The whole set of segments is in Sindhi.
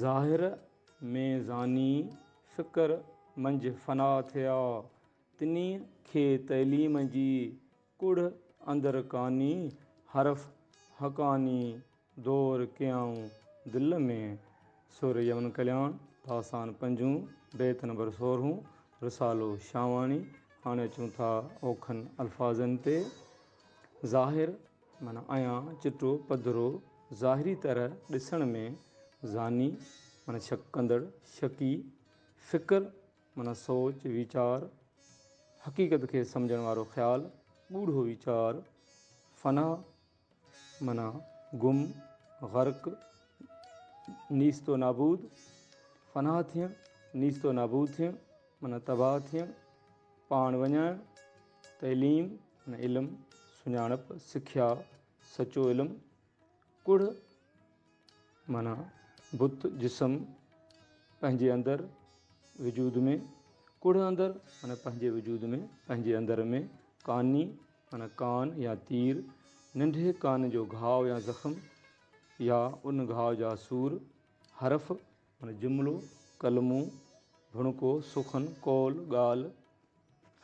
ظاهر ۾ ذاني فڪر منجهه فنا ٿيا. تني کي تعليم جي ڪڙهه اندر ڪاني حرف حقاني دور ڪيائون دل ۾. سر يمن ڪلياڻ، داستان پنجون، بيت نمبر سورهون، رسالو شاهواڻي. هاڻي اچون ٿا اوکن الفاظن تي. ظاهر معنيٰ ايان چٽو پڌرو، ظاهري طرح ڏسڻ ۾ ظاني، معنيٰ شڪ ڪندڙ، شڪي، فڪر، معنيٰ سوچ، ويچار، حقيقت کي سمجهڻ وارو خيال، ڳوڙهو ويچار، فنا، معنيٰ گم، غرق، نيست و نابود، فنا ٿيڻ، نيست و نابود ٿيڻ، معنيٰ تباهه ٿيڻ، پاڻ وڃائڻ. تعليم ۽ علم، سڃاڻپ، سکيا، سچو علم، ڪڙهه معنيٰ بت، جسم، پنهنجي اندر، وجود ۾، ڪڙهه اندر معنيٰ پنهنجي وجود ۾، پنهنجي اندر ۾، ڪاني معنيٰ ڪان يا تير، ننڍي ڪان جو گهاء يا زخم يا ان گهاء جا سور، حرف، معنيٰ، جملو، ڪلمو، ڀڻڪو، سخن، قول، ڳالهه،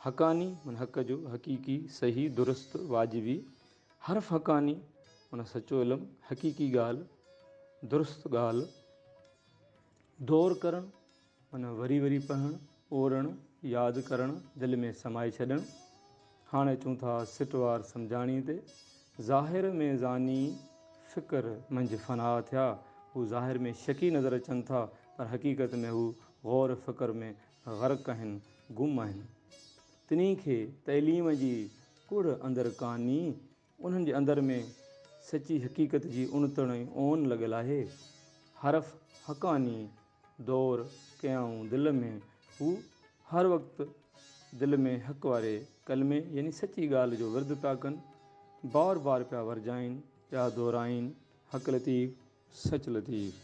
حقاني، معنيٰ حق جو، حقيقي، صحيح، درست، واجبي، حرف حقاني، معنيٰ سچو علم، حقيقي ڳالهه، درست ڳالهه، دور ڪرڻ، معنيٰ وري وري پڙهڻ، اورڻ، ياد ڪرڻ، دل ۾ سمائي ڇڏڻ، هاڻي اچون ٿا سٽوار سمجهاڻي تي. ظاهر ۾ زاني فڪر منجهه فنا ٿيا. هو ظاهر ۾ شڪي نظر اچن ٿا پر حقيقت ۾ هو غور فڪر ۾ غرق آهن، گم آهن. تنهين کي تعليم جي ڪڙهه اندر ڪاني انهن جي اندر ۾ سچي حقيقت جي اڻتڻ ۽ اون لڳل آهي. حرف حقاني دور ڪيائون دل ۾، هو هر وقت دل ۾ حق واري ڪلمي يعني سچي ڳالهه جو ورد پيا ڪن، بار بار پيا ورجائين، پيا دهرائين، حق لطيف، سچ لطيف.